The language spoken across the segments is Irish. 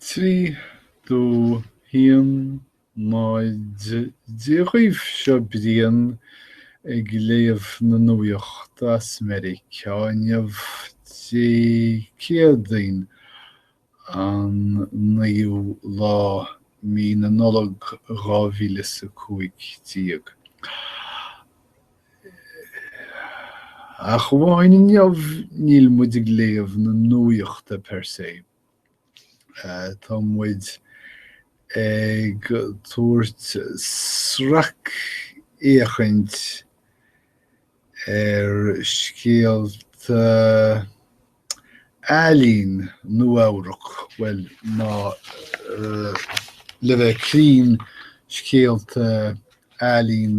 3 2 1 0 Dia dhaoibh seo Brian ag léamh na nuaíochta as Meiriceá inniu, Dé Céadaoin, an 9ú lá mí na Nollag, 2015. Ach amháin inniu, níl muid ag léamh na nuaíochta per se. Tá muid ag tabhairt sracfhéachaint ar scéalta ealaíon Nua-Eabhrac, bhuel, nó le bheith cruinn, scéalta ealaíon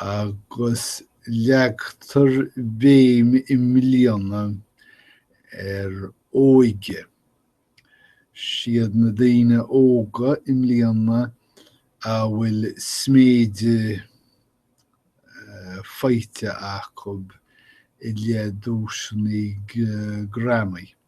agus leagtar béim i mbliana ar óige. Siad na daoine óga i mbliana a bhfuil sméideadh faighte acu i leith duaiseanna Grammy.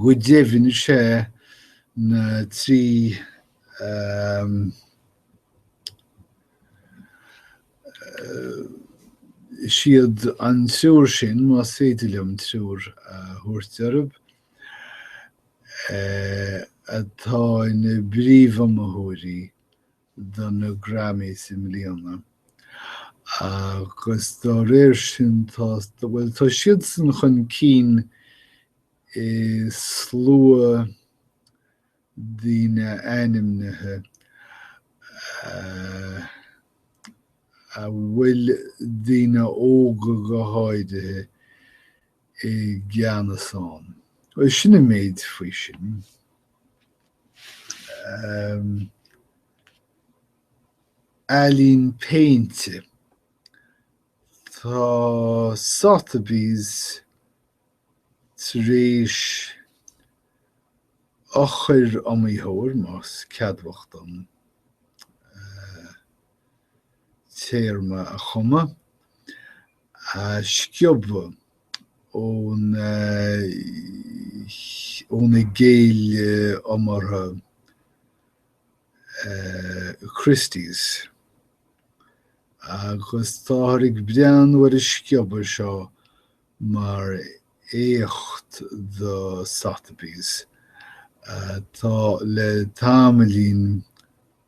Go deimhin is é na trí siad an triúr sin más féidir liom triúr a thabhairt orthu atá ina bpríomhiomaitheoirí do na Grammys i mbliana agus dá réir sin tá, bhuel, tá siadsan chun cinn i slua daoine ainmnithe a bhfuil daoine óga go háirithe, i gceannas ann. Bhuel, sin an méid faoi sin. Um, Ealaín péinte. Tá Sotheby's tar éis eochair iomaitheoir, más ceadmhach dom eh, téarma a chumadh, a sciobadh óna gcéile iomaíochta Christie's, agus táthar ag breathnú ar an sciobadh seo mar éacht do Sotheby's, atá le tamaillín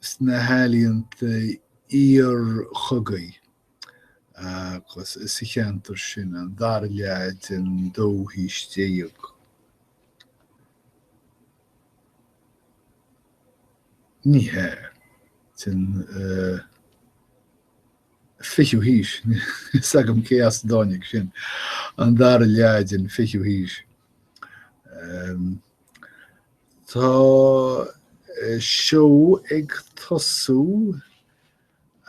sna healaíonta iarchogaidh agus sa cheantar sin an dara leath den dóú haois déag. Ní hea, den fichiú haois, níl a fhios agam cé as a dtáinig sin, an dara leath den fichiú haois. Tá seó ag tosú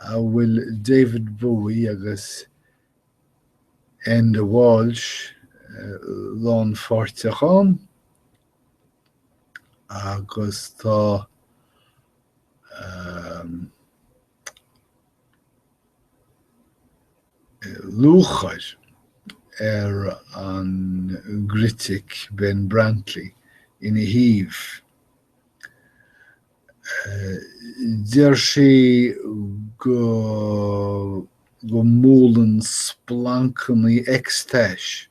a bhfuil David Bowie agus Enda Walsh lánpháirteach ann agus tá lúcháir ar an gcritic Ben Brantley ina thaobh. Deir sé go go mbualann splancannaí ecstasy,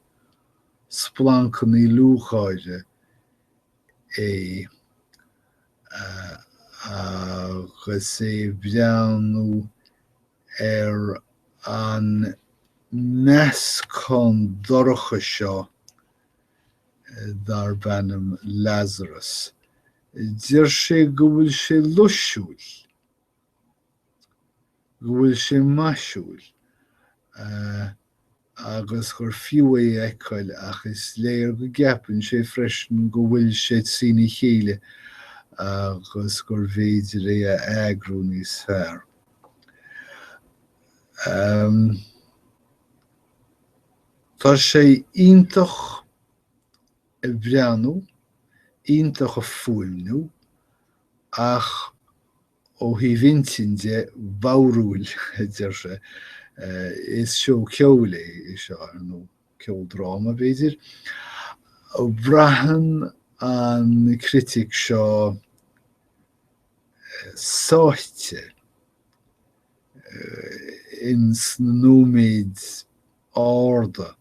splancannaí lúcháire, é agus é ag breathnú ar an meascán dorcha seo darb ainm Lazarus. Deir sé go bhfuil sé luisiúil, go bhfuil sé maisiúil, agus gur fiú é a fheiceáil ach is léir go gceapann sé freisin go bhfuil sé trína chéile agus gurbh fhéidir é a eagrú níos fearr. Tá sé iontach ag breathnú, iontach ag fuaimniú ach Ó thaobh intinn de, balbh, a deir sé, is seó ceoil é seo, ar ndóigh, ceoldráma, b'fhéidir. Braitheann an critic seo sáite ins na nóiméad arda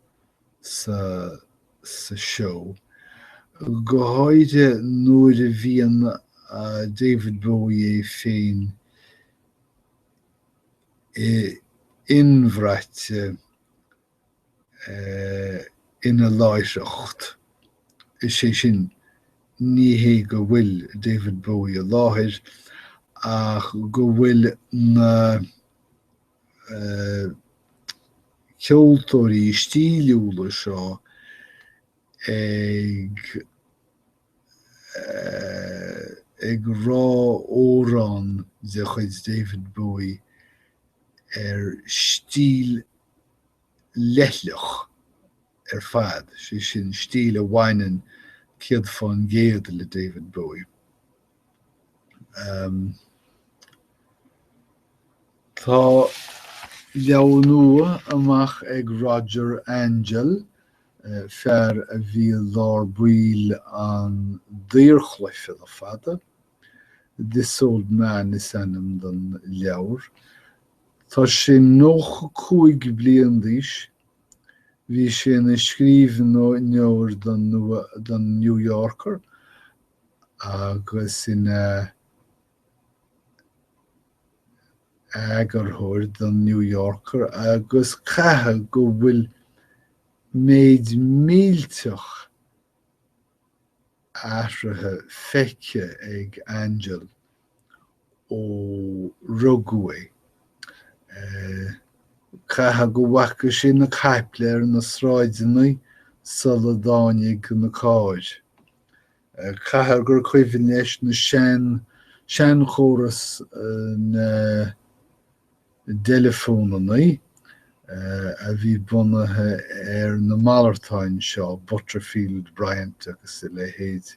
sa sa seó, go háirithe nuair a bhíonn David Bowie é féin i inbhraite ina láithreacht. Is é sin, ní hé go bhfuil David Bowie i láthair, ach go bhfuil na. ceoltóirí stíliúla seo ag ag rá amhrán de chuid David Bowie ar stíl leithleach ar fad, sé sin stíl a bhaineann céad fán gcéad le David Bowie. Tá leabhar nua amuigh ag Roger Angell, fear a bhí i lár baill an daorchluiche le fada. This Old Man is ainm don leabhar. Tá sé nócha cúig bliain d'aois. Bhí sé ina scríbhneoir don New Yorker agus ina eagarthóir don New Yorker agus caithfidh go bhfuil méid millteach athruithe feicthe ag Angell. ó rugadh é. Caithfidh go bhfaca sé na caiple ar na sráideannaí sula dtáinig na cairr. Caithfidh gur cuimhin leis na sean seanchóras na dteileafónannaí a bhí bunaithe ar na malartáin seo, Butterfield, Bryant agus a leithéid.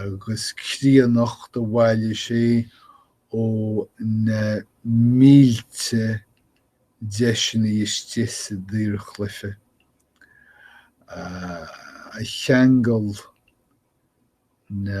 agus críonnacht do bhailigh sé ó na mílte deiseanna is dtigh sa daorchluiche, a cheangal na.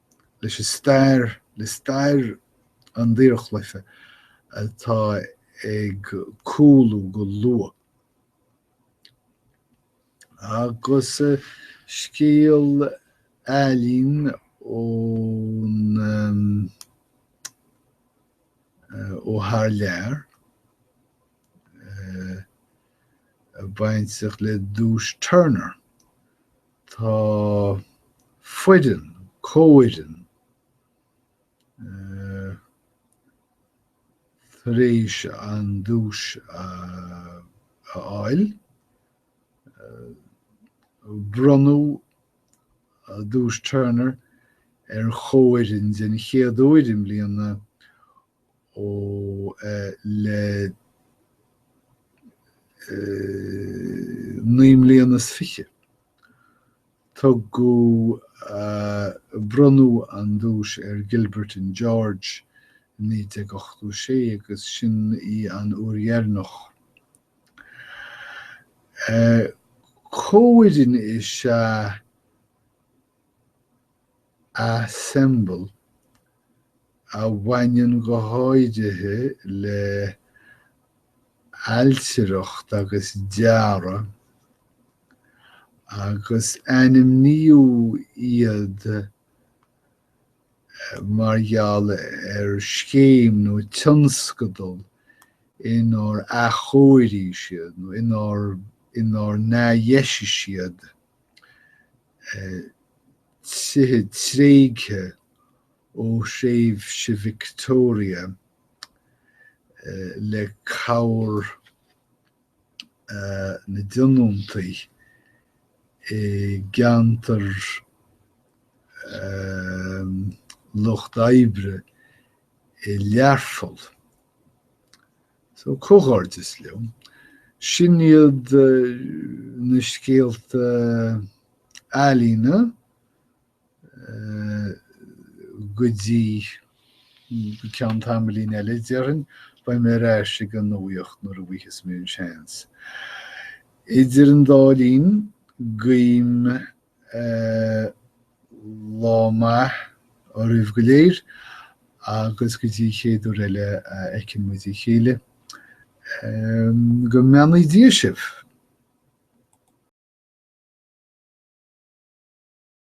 leis an stair, le stair an daorchluiche atá ag cúlú go luath, agus scéal ealaíon ón ó thar lear baint aige le duais Turner. Tá foireann, comhfhoireann, tar éis an duais a fháil. Bronnadh Duais Turner ar chomhfhoireann den chéad uair i mbliana ó, le naoi mbliana is fiche. Tugadh, bronnadh an duais ar Gilbert and George i 1986 agus sin í an uair dheireanach. Comhfhoireann is ea. assemble, a bhaineann go háirithe le ailtireacht agus dearadh, agus ainmníodh iad mar gheall ar scéim nó tionscadal inar athchóirigh siad nó inar n-athdheisigh siad tithe tréigthe ó thréimhse Victoria le cabhair na dtionóntaithe i gceantar lucht oibre i Learpholl. So comhghairdeas leo, sin iad na scéalta ealaíne go dtí ceann tamaillín eile, déarfainn. Beidh mé ar ais ag an nuaíocht nuair a gheobhas mé an seans. Idir an dá linn, guím lá maith oraibh go léir agus go dtí chéad uair eile a fheiceann muid a chéile, go mbeannaí Dia sibh!